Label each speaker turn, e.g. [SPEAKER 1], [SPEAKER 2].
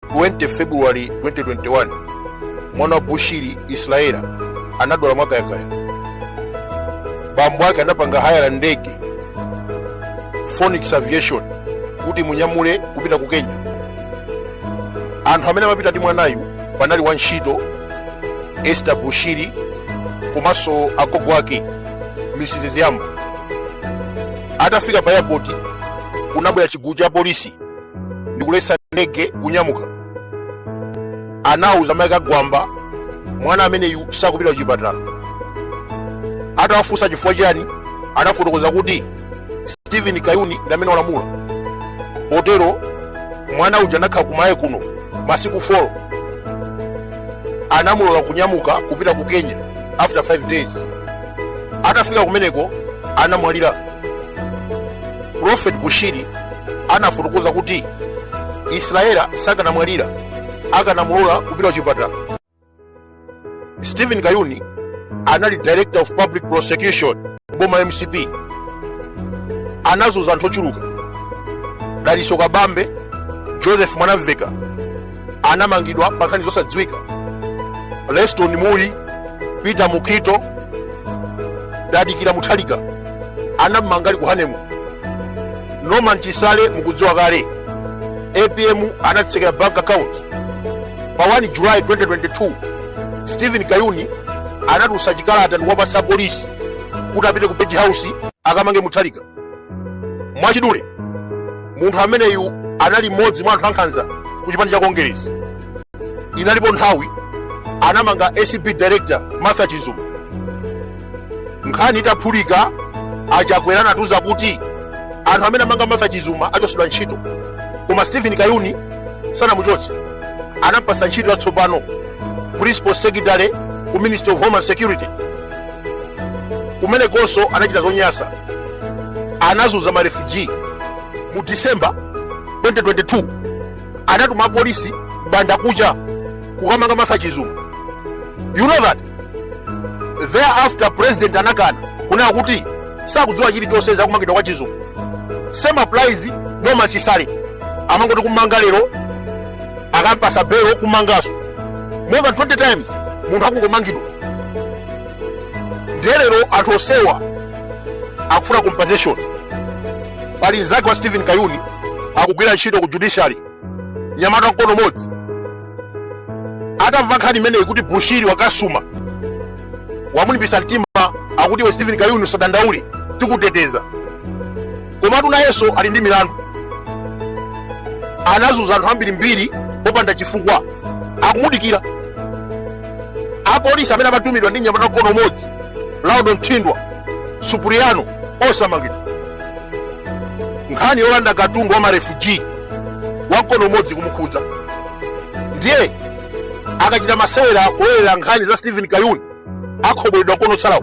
[SPEAKER 1] 20 february 2021 mwana wa bushiri israela anadwala mwakayakaya bambo ake anapanga haya la ndege phoenix aviation kuti imunyamule kupita ku kenya anthu amene ankapita ndi mwanayu panali wantchito esther bushiri komanso agogo ake mrs ziyamba atafika pa airport kunabwera chigulu cha polisi ndikuletsa ndege kunyamuka anauza mayi ake kuti mwana ameneyu sakupita kuchipatala atawafunsa chifukwa chani anafotokoza kuti stephen kayuni ndi amene walamula potero mwana uja anakhala ku malawi kuno masiku 4 anamulola kunyamuka kupita ku kenya after 5 days atafika kumeneko anamwalira prophet bushiri anafotokoza kuti israela sakanamwalira akanamulola kupita kuchipatala stephen kayuni anali director of public prosecution boma mcp anazunza anthu ochuluka dalitso kabambe joseph mwanamveka anamangidwa pa nkhani zosadziwika leston mulli peter mukhito tadikira mutharika anamumanga ali ku honeymoon norman chisale mukudziwa kale apm anawatsekera bank account pa 1 july 2022 stephen kayuni anatulutsa chikalata ndikuwapatsa polisi kuti apite ku page house akamange mutharika mwachidule munthu ameneyu anali mmodzi mwa anthu ankhanza ku chipani cha kongeresi inalipo nthawi anamanga acb director martha chizuma nkhani itaphulika achakwera anatiuza kuti anthu amene amanga martha chizuma achotsedwa ntchito koma stephen kayuni sanamuchotse anamupatsa ntchito yatsopano principal secretary ku ministry of homeland security kumenekonso anachita zonyasa anazunza marefugee mu december 2022 anatuma apolisi m'bandakucha kukamanga martha chizuma you know that thereafter president anakana kunena kuti sakudziwa chilichonse za kumangidwa kwa chizuma same applies norman chisale amangoti kummanga lero akampatsa belo kummanganso more than 20 times munthu akungomangidwa ndiye lero anthu onsewa akufuna compensation pali mzake wa stephen kayuni akugwira ntchito ku judiciary mnyamata mkono umodzi atamva nkhani imeneyi kuti bushiri wakasuma wamulimbisa mtima akuti iwe stephen kayuni usadandaule tikuteteza komatu nayenso ali ndi milandu anazunza anthu ambirimbiri popanda chifukwa akumudikira apolisi amene amatumidwa ndi mnyamata wa mkono umodzi laudon thindwa supriano osamangidwa nkhani yolanda katundu wa marefuji wa mkono umodzi ikumukhudza ndiye akachita masewera kulowerera nkhani za stephen kayuni akhobweredwa mkono wotsalawo